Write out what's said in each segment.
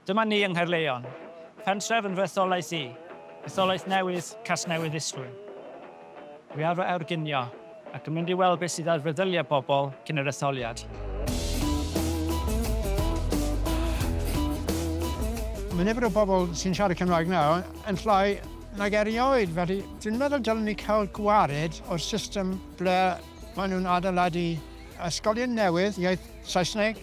Dyma ni yng Nghaerleon, pentref yn fy etholaeth i, etholaeth newydd Casnewydd Isfrwyn. Dwi ar fy airginio ac yn mynd i weld beth sydd ar feddyliau pobl cyn yr etholiad. Mae nifer y bobl sy'n siarad Cymraeg nawr yn llai nag erioed, felly dwi'n meddwl dylen ni cael gwared o'r system ble maen nhw'n adeiladu ysgolion newydd iaith Saesneg.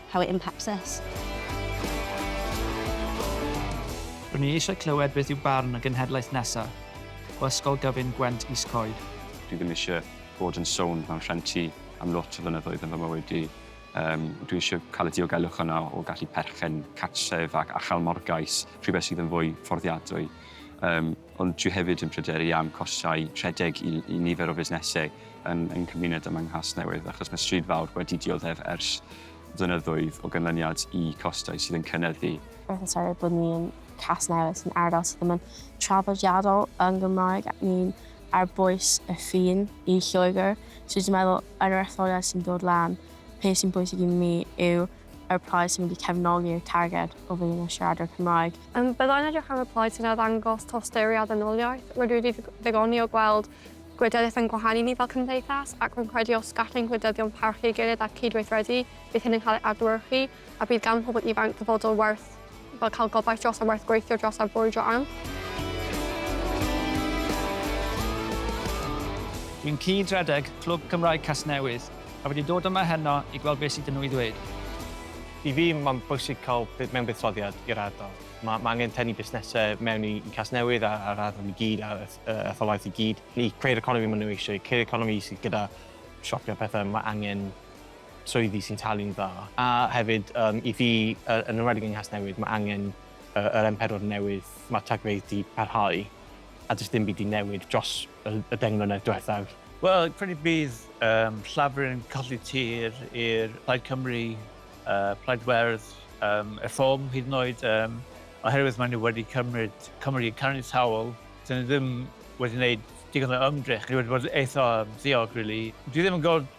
How it impacts us. R'wn i eisiau clywed beth yw barn y genhedlaeth nesa o Ysgol Gyfun Gwent Is Coed. Dwi ddim eisiau bod yn sownd mewn rhenti am lot o flynyddoedd yn fy mywyd i. Yym, dwi eisiau cael y diogelwch yna o gallu perchen cartref ac achael morgais, rhywbeth sydd yn fwy fforddiadwy. Yym, ond dwi hefyd yn pryderu am costau rhedeg i i nifer o fusnesau yn yng nghymuned ym Nghasnewydd, achos mae stryd fawr wedi dioddef ers flynyddoedd o ganlyniad i costau sydd yn cynyddu. Mae'n sori bod ni yn Casnewydd sy'n ardal sydd ddim yn traddodiadol yn Gymraeg ac ni'n ar bwys y ffin i Lloegr. So dwi'n meddwl yn yr etholiad sy'n dod lan, peth sy'n bwysig i mi yw ar y plaid sy'n mynd i cefnogi'r targed o filiwn o siaradwyr Cymraeg. Yym, bydda i'n edrych ar y plaid sy'n arddangos tosturi a ddynoliaeth. Rydw i wedi ddigoni o gweld gwleidyddiaeth yn gwahanu ni fel cymdeithas, ac rwy'n credu os gall ein gwleidyddion parchu ei gilydd a cyd-weithredu, bydd hyn yn cael ei adlewyrchu, a bydd gan pobl ifanc ddyfodol werth. Fel cael gobaith dros a werth gweithio dros a brwydro am. Dwi'n cyd-redeg Clwb Cymraeg Casnewydd a wedi dod yma heno i gweld beth sydd 'da nhw i ddweud. I fi, mae'n bwysig cael mewnbuddsoddiad i'r ardal. Mae ma angen tynnu busnesau mewn i, i Casnewydd a'r ardal i gyd a'r etholaeth i gyd i creu'r economi maen nhw eisiau, creu'r economi sydd gyda siopio pethau, mae angen swyddi sy'n talu'n dda, a hefyd yym i fi, yn enwedig yng Nghasnewydd, mae angen yr M4 newydd, mae'r tagfeydd 'di parhau a does dim byd 'di newid dros y deng mlynedd diwethaf. Wel, credu bydd yym Llafur yn colli tir i'r Plaid Cymru, Plaid Werdd, yym Reform hyd yn oed, yym oherwydd maen nhw wedi cymryd Cymru yn caniataol, dan ni ddim wedi wneud digon o ymdrech, ni wedi bod eitha ddiog rili. Dwi ddim yn gweld